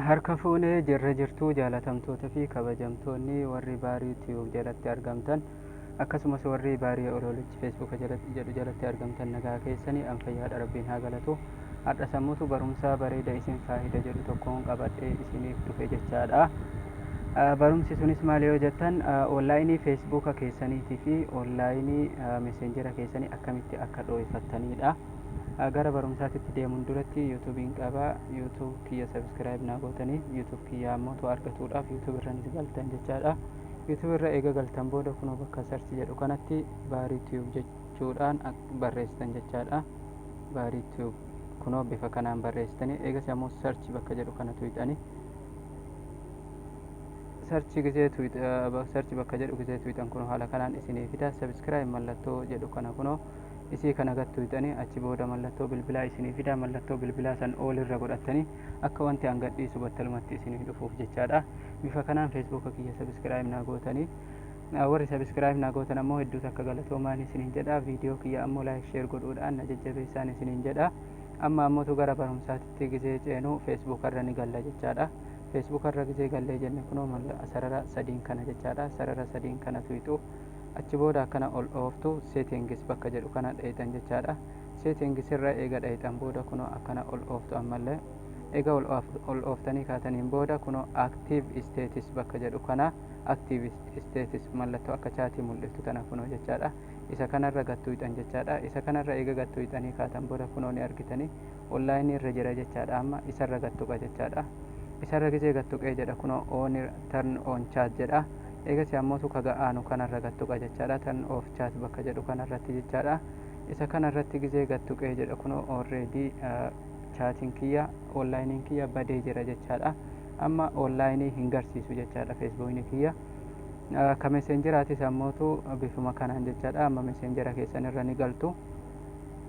Harka fuune jirra jirtuu jaalatamtoota fi kabajamtoonni warri baarii tiyuub jalatti argamtan akkasumas warri baarii oloolichi feesbuuka jedhu jalatti argamtan nagaa keessanii an fayyaadha rabbiin haa galatu har'a sammutu barumsaa bareeda isin faayida jedhu tokkoon qabadhee isiniif dhufe jechaadha barumsi sunis maal yoo jettan onlaayinii feesbuuka keessaniitii fi onlaayinii meseenjera keessanii akkamitti akka dhooyfattaniidha Ah, gara barumsaatitti deemuun duratti YouTube hin qaba. YouTube kiyya subscribe naa gootanii YouTube kiyya ammoo too argatuudhaaf YouTube irranis galtan jechaadha. YouTube irra eega galtan booda kunoo bakka search jedhu kanatti baarii tube jechuudhaan ak- barreessitan jechaadha. Baarii tube kunoo bifa kanaan barreessitanii eegas ammoo search bakka jedhu kana tuqxanii sarchi gisee sarchi bakka jedhu gisee tuqxan kun haala kanaan isinii fida subscribe mallattoo jedhu kana kunoo Isii kana gad tuyxanii achi booda mallattoo bilbilaa isinii fida. Mallattoo bilbilaa san all irra godhattanii akka wanti an gad dhiisu battalumatti isinii dhufuuf jechaadha. Bifa kanaan Facebook kiyya subscribe naa gootanii. Ah, Warri subscribe naa gootan ammoo hedduu takka galatoomaan isiniin jedha. Viidiyoo kiyya ammoo like share godhuudhaan na jajjabeessaan isiniin jedha. Amma ammotu gara barumsaatitti gizee ceenu Facebook irra ni galla jechaadha. Facebook irra gizee gallee jenne kunoo malla- sarara sadiin kana jechaadha. Sarara sadiin kana tuyxu. Achi booda akkana ol dhooftu settings bakka jedhu kana dhayxan jechaadha. Settings irra eega dhayxan booda kunoo akkana ol dhooftu ammallee. Eega ol ol dhooftanii kaataniin booda kunoo active status bakka jedhu kana active status mallattoo akka chaatii mul'iftu tana kunoo jechaadha. Isa kanarra gad tuyxan jechaadha. Isa kanarra eega gad tuyxanii kaatan booda kunoo ni argitanii. online irra jira jechaadha amma isarra gad tuqa jechaadha isarra gizee gad tuqee jedha kunoo on turn on chat jedha eegasii ammootu kaga aanu kanarra gad tuqa jechaadha turn off chat bakka jedhu kanarratti jechaadha isa kanarratti gizee gad tuqee jedha kunoo already chaatiin kiyya onlaayiniin kiyya badee jira jechaadha amma onlaayinii hin garsiisu jechaadha feesbuukni kiyya ka meseenjeraatis ammootu bifuma kanaan jechaadha amma meseenjera keessan irra ni galtu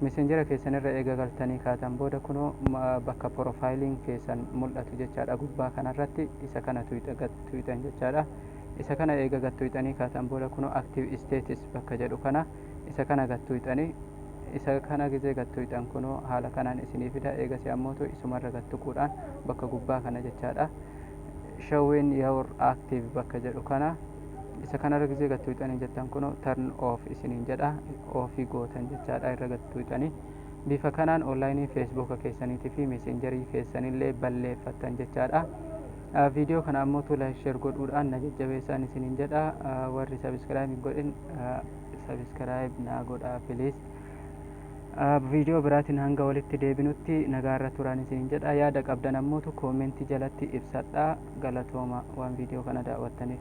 Messenger keessan irra eega galtanii kaatan booda kunoo bakka profile keessan mul'atu jechaadha gubbaa kanarratti isa kana tuyxa gad tuyxan jechaadha. Isa kana eega gad tuyxanii kaatan booda kunoo active status bakka jedhu kana isa kana gad tuyxanii isa kana gizee gad tuyxan kunoo haala kanaan isinii fida eegasii ammootu isumarra gad tuquudhaan bakka gubbaa kana jechaadha showing your active bakka jedhu kana isa kanarra gizee gad tuqxanii jettan kun turn off isiniin jedha ofii gootan jechaadha irra gad tuqxanii bifa kanaan onlaayinii feesbuuka keessaniitii fi meeseenjarii keessanillee balleeffattan jechaadha. Viidiyoo kana ammoo tola sheer godhuudhaan na jajjabeessaan isiniin jedha warri sabiskiraayib hin godhin sabiskiraayib naa godhaa piliis. Viidiyoo biraatiin hanga walitti deebinutti nagaarra turaan isiniin jedha. Yaada qabdan ammootu koomentii jalatti ibsadhaa. Galatooma waan viidiyoo kana daawwattaniif.